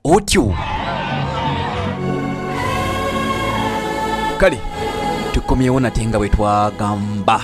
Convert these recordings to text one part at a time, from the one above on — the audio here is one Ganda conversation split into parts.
Otyo kale tukomyewo nate nga bwe twagamba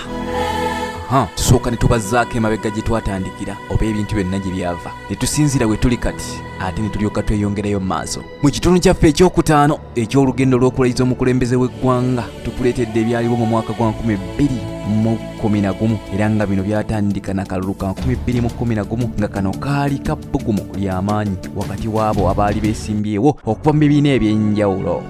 tusooka ne tubazzaako emabega gye twatandikira oba ebintu byonna gye byava ne tusinziira we tuli kati ate ne tulyoka tweyongerayo mu maaso mu kitundu kyaffe ekyokutaano eky'olugendo lw'okulayiza omukulembeze w'eggwanga tukuleetedde ebyaliwo mu mwaka gwa 2011 era nga bino byatandika na kalulu ka 2011 nga kano kaali ka bbugumu ly'amaanyi wakati w'abo abaali beesimbyewo okuva mu bibiina eby'enjawulo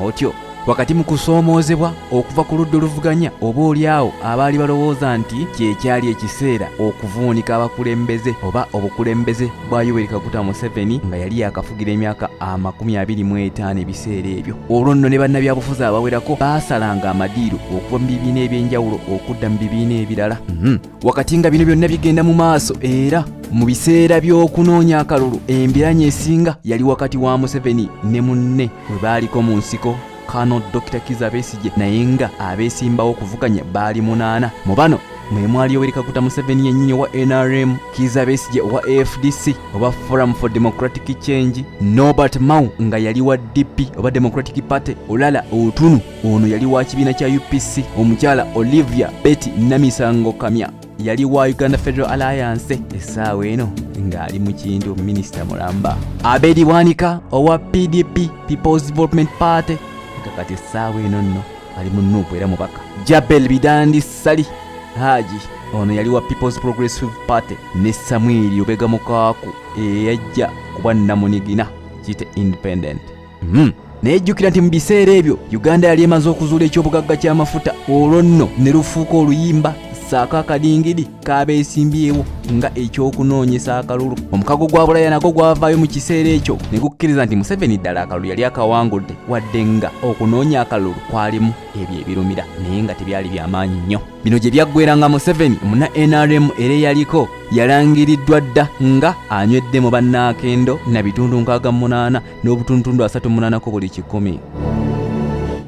otyo wakati mu kusoomoozebwa okuva ku ludda oluvuganya oba olyawo abaali balowooza nti kyekyali ekiseera okuvuunika abakulembeze oba obukulembeze bwa yoweri kaguta museveni nga yali yakafugira emyaka amakumi abiri mu etaano ebiseera ebyo olwo nno ne bannabyabufuzi abawerako baasalanga amadiiro okuva mu bibiina ebyenjawulo okudda mu bibiina ebirala mhm. wakati nga bino byonna bigenda mu maaso era mu biseera by'okunoonya akalulu embiranye esinga yali wakati wa museveni ne munne we baaliko mu nsiko kano dr kiza besigye naye nga abeesimbawo okuvuganya baali munaana mu bano mwe mwali yoweri kaguta museveni yennyini owa nrm kiza besigye owa afdc oba forum for democratic change nobert mau nga yali wa dp oba democratic party olala otunu ono yali wa kibiina kya upc omukyala olivia betty namisango kamya yali wa uganda federal alliance essaawa eno ng'ali mu kintu minisita mulamba abedi bwanika owa pdp peoples development party nga kati essaawa eno nno ali mu nuupu era mubaka jabel bidandi sali haji ono yali wa peoples progressive party ne samwiri obega mukaaku eyajja kuba namunigina kite independent Hmm. naye jjukira nti mu biseera ebyo uganda yali emaze okuzuula eky'obugagga ky'amafuta olwo nno ne lufuuka oluyimba saako akadingidi kaabeesimbyewo nga eky'okunoonyesa akalulu omukago gwa bulaya nagwo gwavaayo mu kiseera ekyo ne gukkiriza nti museveni ddala akalulu yali akawangudde wadde nga okunoonya akalulu kwalimu ebyo ebirumira naye nga tebyali byamaanyi nnyo bino gye byaggwera nga museveni muna nrm era eyaliko yalangiriddwa dda nga anywedde mu bannaakendo na bitundu nkaaga munaana n'obutuntundu asatu munanako buli kikumi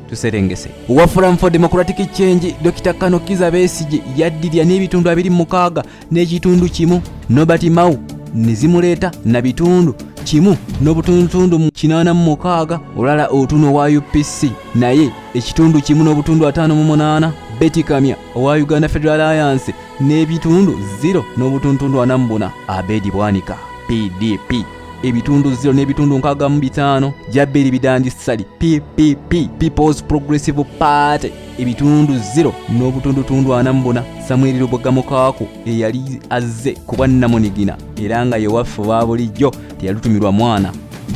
tuserengese owa forum for democratic change dr kano kiza besigi yaddirya n'ebitundu abiri mukaaga n'ekitundu kimu nobert mau nezimuleeta na bitundu kimu n'obutundutundu mu kinaana mu mukaaga olala otuno wa upc naye ekitundu kimu n'obutundu ataano mu munaana betikamya owa uganda federal alliance n'ebitundu 0 n'obutundutundu ana mu buna abedi bwanika pdp ebitundu ziro n'ebitundu nkaaga mu bitaano jaberi bidandi sali ppp peoples progressive party ebitundu ziro n'obutundutundu ana mu buna samweri lubogamukaako eyali azze ku bwannamunigina era nga yewaffe wa bulijjo teyalutumirwa mwana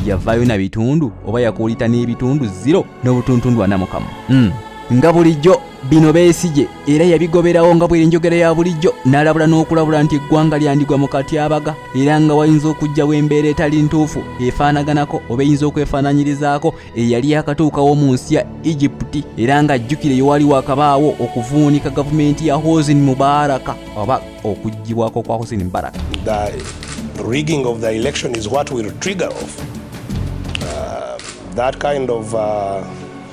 yavaayo na bitundu oba yakuulita n'ebitundu ziro n'obutundutundu ana mukamu hmm. nga bulijjo Bino Besigye era yabigoberawo nga bw'enjogera ya bulijjo n'alabula n'okulabula nti eggwanga lyandigwa mu katyabaga era nga wayinza okujjawo embeera etali ntuufu efaanaganako oba eyinza okwefaananyirizaako eyali yakatuukawo mu nsi ya Egypti era nga ajjukire yewali wakabaawo okuvuunika gavumenti ya Hosni Mubaraka oba okuggyibwako kwa Hosni Mubaraka that kind of uh,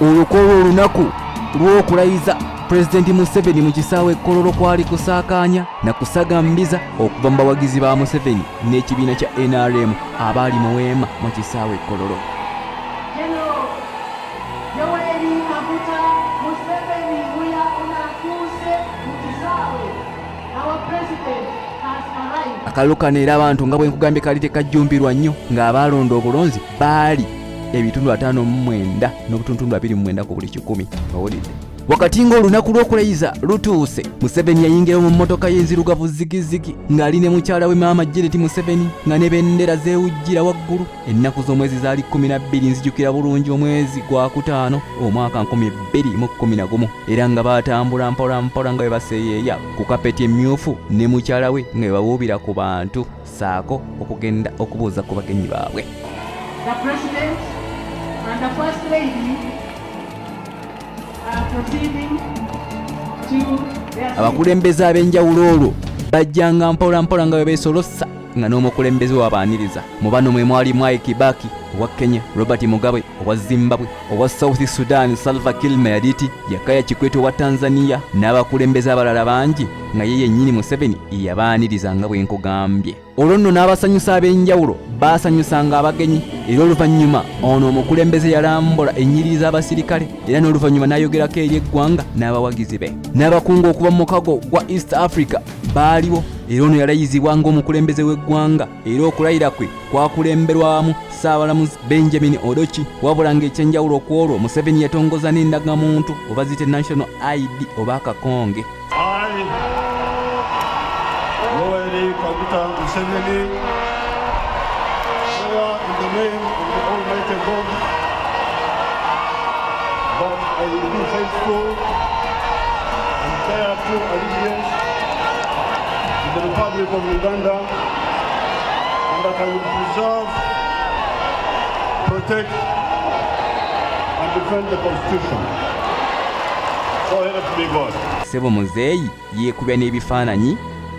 olukolwa olunaku lw'okulayiza pulezidenti museveni mu kisaawe ekkololo kwali kusaakaanya na kusagambiza okuva mu bawagizi ba museveni n'ekibiina kya nrm abaali mu weema mu kisaawe ekkololo akalulu kano era abantu nga bwe nkugambye kali tekajjumbirwa nnyo ng'abaalonda obulonzi baali ebitundu ataano mu mwenda n'obutuntundu abiri mu mwenda ku buli kikumi owulidde wakati ng'olunaku lw'okulayiza lutuuse museveni yayingirawo mu mmotoka y'enzirugavu zigizigi ng'ali ne mukyala we maama jereti museveni nga ne bendera zeewujjira waggulu ennaku z'omwezi zaali kkumi na bbiri nzijukira bulungi omwezi gwa kutaano omwaka nkumi bbiri mu kkumi na gumu era nga baatambula mpolampola nga bwe baseeyeeya ku kapeti emmyufu ne mukyala we nga bwe bawuubira ku bantu saako okugenda okubuuza ku bagenyi baabwe The President and the First Lady are proceeding to their abakulembeze ab'enjawulo olwo bajjanga mpola mpola nga bwe beesolossa nga n'omukulembeze wabaaniriza mu bano mwe mwali mwai kibaki owa kenya robert mugabe owa zimbabwe owa South Sudan Salva Kiir Mayardit, Jakaya Kikwete owa Tanzania n'abakulembeze abalala bangi nga ye yennyini Museveni yabaaniriza nga bwe nkugambye. Olwo nno n'abasanyusa ab'enjawulo baasanyusanga abagenyi era oluvannyuma ono omukulembeze yalambula ennyiriri z'abasirikale era n'oluvannyuma n'ayogerako eri eggwanga n'abawagizi be. N'abakungu okuva mu mukago gwa East Africa baaliwo era ono yalayizibwa ng'omukulembeze w'eggwanga era okulayira kwe kwakulemberwamu ssaabalamuzi benjamin odoki wabula ng'ekyenjawulo ku olwo museveni yatongoza n'endagamuntu oba zite national id oba akakonge But I will be faithful and bear true allegiance to the Republic of Uganda. and that I will preserve, protect, and defend the Constitution. So help me God. Sebo Muzeeyi yeekubya n'ebifaananyi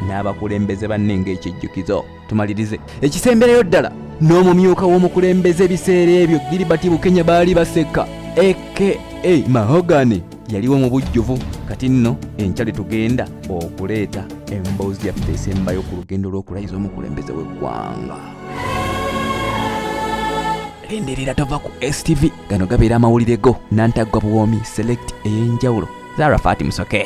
n'abakulembeze banne ng'ekijjukizo. Tumalirize ekisemberayo ddala n'omumyuka w'omukulembeze ebiseera ebyo Gilbert Bukenya baali baseka aka Mahogany yaliwo mu bujjuvu kati nno enkya lye tugenda okuleeta emboozi yaffe esembayo ku lugendo lw'okulayiza omukulembeze w'eggwanga enderera tova ku stv gano gabeera amawulire go nantaggwa buwoomi select ey'enjawulo zara fati musoke